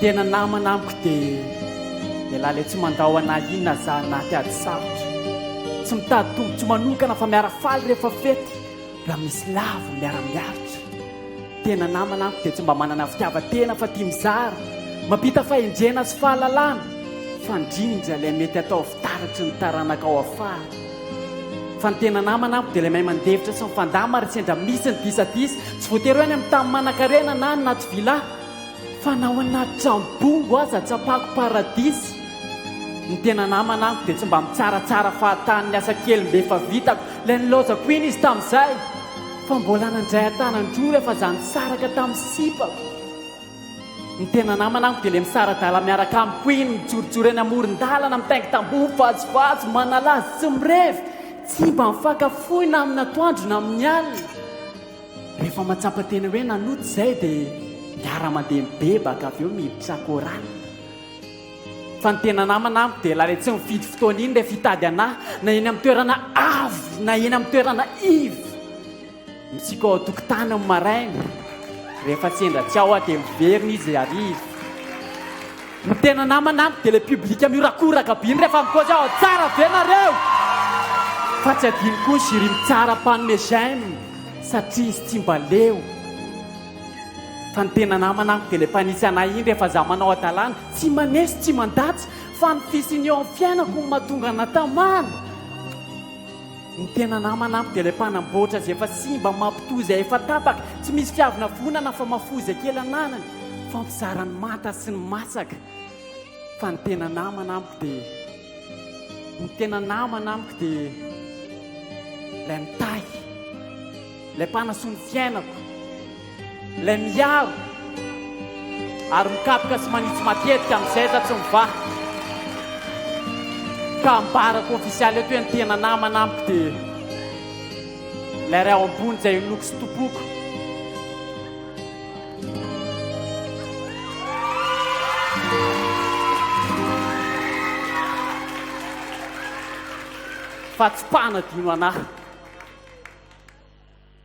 tena namana amiko dia dia laly tsy mandao ana inona za anaty ady sarotra tsy mitady tombontsoa manokana fa miara faly rehefa fety Raha misy lavo miara-miaritra. Tena namana amiko dia tsy mba manana fitiavan-tena fa tia mizara, mampita fahendrena sy fahalalana, fandrindra ilay mety ataovy taratry ny taranaka ao afara. Fa ny tena namana amiko dia ilay mahay mandefitra sy mifandamina raha sendra misy ny disadisa, tsy voatery hoe any amin'ny tany manankarena na any Nativilla. Fa na ao anaty trano bongo aza tsapako paradisa Ny tena namana amiko dia tsy mba mitsaratsara fahatany Ny asa kely mba efa vitako Ilay nilaozako iny izy tamin'izay Fa mbola nandray an-tanan-droa rehefa za nisaraka tamin'ny sipako Ny tena namana amiko dia ilay misara-dàla miaraka amiko iny Mijorojoro eny amoron-dàlana mitaingy tamboho Mivazivazy, manala azy, tsy mirevy Tsy mba mifankafoy na amin'ny atoandro na amin'ny alina Rehefa matsapa tena hoe nanota izay dia miara mandeha mibebaka avy eo miditra chorale. Fa ny tena namana amiko dia ilay tsy mifidy fotoana iny rehefa hitady anah na eny amin'ny toerana avo na eny amin'ny toerana iva. Mitsiky ao an-tokotany amin'ny maraina, rehefa sendra tsy ao aho dia miverina izy hariva. Ny tena namana de le public miorakoraka by refa mipôzy ao tsara ve nareo? Fa tsy adino koa ny jury mitsara mpanome j'aime satria izy tsy mba leo Fa ny tena namana de le mpanitsy anay iny refa za manao adalana Tsy maneso tsy mandatsa fa ny fisiany eo am fiainako no mahatonga ana tamana Ny tena namana amiko dia ilay mpanamboatra izay efa simba, mampitohy izay efa tapaka, tsy misy fiavina vonana fa mahafoy izay kely ananany, mifampizara ny manta sy ny masaka. Fa ny tena namana amiko dia, ny tena namana amiko dia ilay mitahy, ilay mpanasoa ny fiainako. Ilay miaro ary mikapoka sy manitsy matetika amin'ny zaitra tsy mivaha. Ka ambarako ofisialy eto hoe ny tena namana amiko dia ilay Ray ao Ambony izay inoako sy Tompoko. Fa tsy mpanadino an'ahy.